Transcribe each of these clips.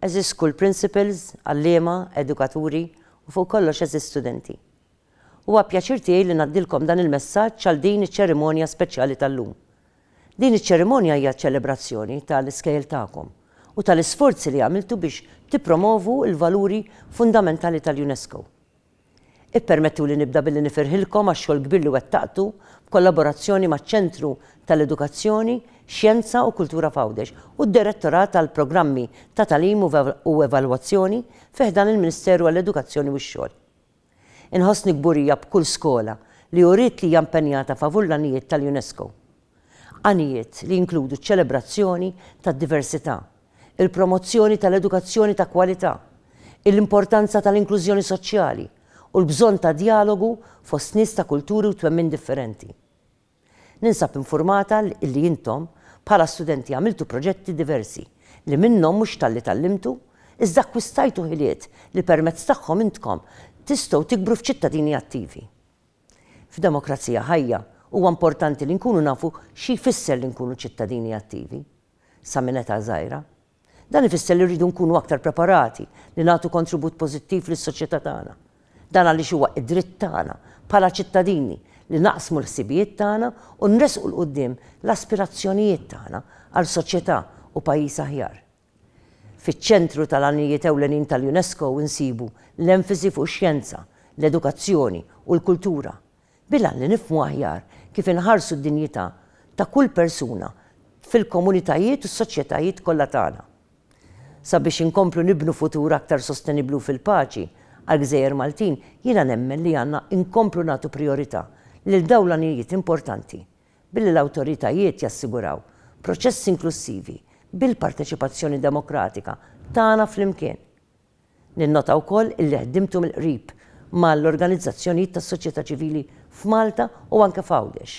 Għeżież School Principals, Għalliema, Edukaturi, u fuq kollox għeżież Studenti. Huwa pjaċir tiegħi li ngħaddilkom dan il-messaġġ għal din iċ-ċerimonja speċjali tal-lum. Din iċ-ċerimonja hija ċelebrazzjoni ta' l-iskejjel tagħkom u ta' l-isforzi li għamiltu biex tippromovu l-valuri fundamentali tal-UNESCO. Ippermettuli nibda billi nifirħilkom għax-xogħol kbir li wettaqtu b'kollaborazzjoni maċ-Ċentru tal-Edukazzjoni, Xjenza u Kultura f'Għawdex u d-Direttorat għall-Programmi ta' Tagħlim u Evalwazzjoni fi ħdan il-Ministeru għall-Edukazzjoni u x-Xogħol. Inħossni kburija b'kull skola li uriet li hija impenjata favur l-għanijiet tal-UNESCO. Għanijiet li jinkludu ċ-ċelebrazzjoni tad-diversità, il-promozzjoni tal-edukazzjoni ta' kwalità, il-importanza tal-inklużjoni soċjali u l-bżonn ta' djalogu fost nies ta' kulturi u twemmin differenti. Ninsab infurmata illi intom, bħala studenti għamiltu proġetti diversi li minnhom mhux talli tgħallimtu, iżda akkwistajtu ħiliet li permezz tagħhom intkom tistgħu tikbru f'ċittadini attivi. F'demokrazija ħajja, huwa importanti li nkunu nafu xi jfisser li nkunu ċittadini attivi, sa minn età żgħira. Dan ifisser li rridu nkunu aktar preparati li nagħtu kontribut pożittiv lis-soċjetà tagħna. Dan għaliex huwa d-dritt tagħna, bħala ċittadini, li naqsmu l-ħsibijiet tagħna u nressqu 'l quddiem l-aspirazzjonijiet tagħna għal soċjetà u pajjiż aħjar. Fiċ-ċentru tal-għanijiet ewlenin tal-UNESCO nsibu l-enfasi fuq ix-xjenza, l-edukazzjoni u l-kultura, bil-għan li nifhmu aħjar kif inħarsu d-dinjità ta' kull persuna fil-komunitajiet u s-soċjetajiet kollha tagħna. Sabiex inkomplu nibnu futur aktar sostenibbli u fil-paċi għall-gżejjer Maltin, jiena nemmen li għandna nkomplu nagħtu prijorità lil dawn l-għanijiet importanti Billi l-awtoritajiet jassiguraw proċessi inklussivi bil-parteċipazzjoni demokratika tagħna flimkien. Ninnota wkoll illi ħdimtu mill-qrib ma' l-organizzazzjonijiet tas-soċjetà ċivili f'Malta u anke f'Għawdex.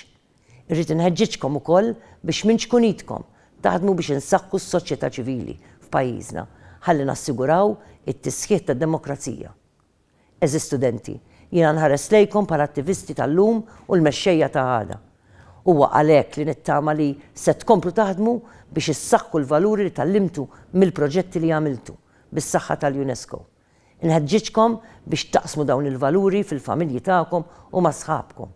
Irrid inħeġġiġkom ukoll biex minn ċkun idkom taħdmu biex insaħħu s-soċjetà ċivili f'pajjiżna ħalli nassiguraw it-tisħiħ tad-demokrazija. Għeżież studenti, jiena nħares lejkom bħala attivisti tal-lum u l-mexxejja ta' għada. Huwa għalhekk li nittama li se tkomplu taħdmu biex issaħħu l-valuri li tgħallimtu mill-proġetti li għamiltu, bis-saħħa tal-UNESCO. Inħeġġiġkom biex taqsmu dawn il-valuri fil-familji tagħkom u ma' sħabkom.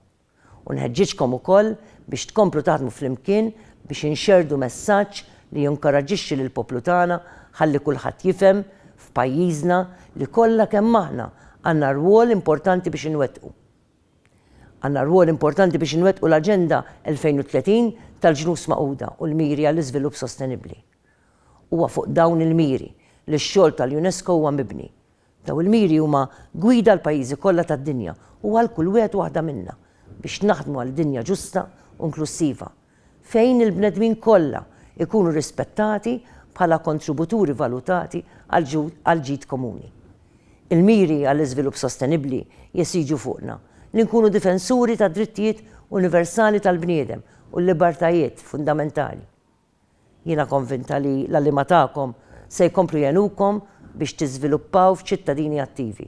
U nħeġġiġkom ukoll biex tkomplu taħdmu flimkien biex inxerrdu messaġġ li jinkoraġġixxi lill-poplu tagħna ħalli kulħadd jifhem, f'pajjiżna, li kollha kemm aħna għandna rwol importanti biex inwettqu. Għandna rwol importanti biex inwettqu l-Aġenda 2030 tal-Ġnus Magħquda u l-Miri għall-Iżvilupp Sostenibbli. Huwa fuq dawn il-miri li x-xogħol tal-UNESCO huwa mibni. Dawn il-miri huma gwida għall-pajjiżi kollha tad-dinja u għal kull wieħed u waħda minna biex naħdmu għal dinja ġusta u inklussiva, fejn il-bnedmin kollha jkunu rispettati bħala kontributuri valutati għall-ġid komuni. Il-miri għall-iżvilupp sostenibbli jesiġu fuqna li nkunu difensuri tad-drittijiet universali tal-bniedem u l-libertajiet fundamentali. Jiena konvinta li l-għalliema tagħkom se jkomplu jgħinukom biex tiżviluppaw f'ċittadini attivi.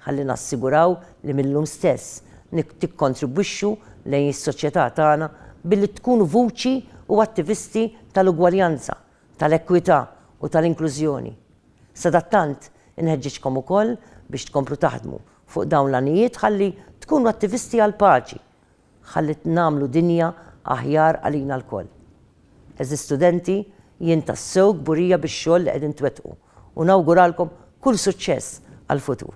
Ħalli nassiguraw li mil-lum stess tikkontribwixxu lejn is-soċjetà tagħna billi tkunu vuċi u attivisti tal-ugwaljanza, tal-ekwità u tal-inklużjoni. Sadattant, inħeġġiġkom ukoll biex tkomplu taħdmu fuq dawn l-għanijiet ħalli tkunu attivisti għall-paċi Ħallit nagħmlu dinja aħjar għalina lkoll. Għeżież studenti, jien tassew kburija bix-xogħol li qegħdin twettqu u nawguralkom kull suċċess għall-futur.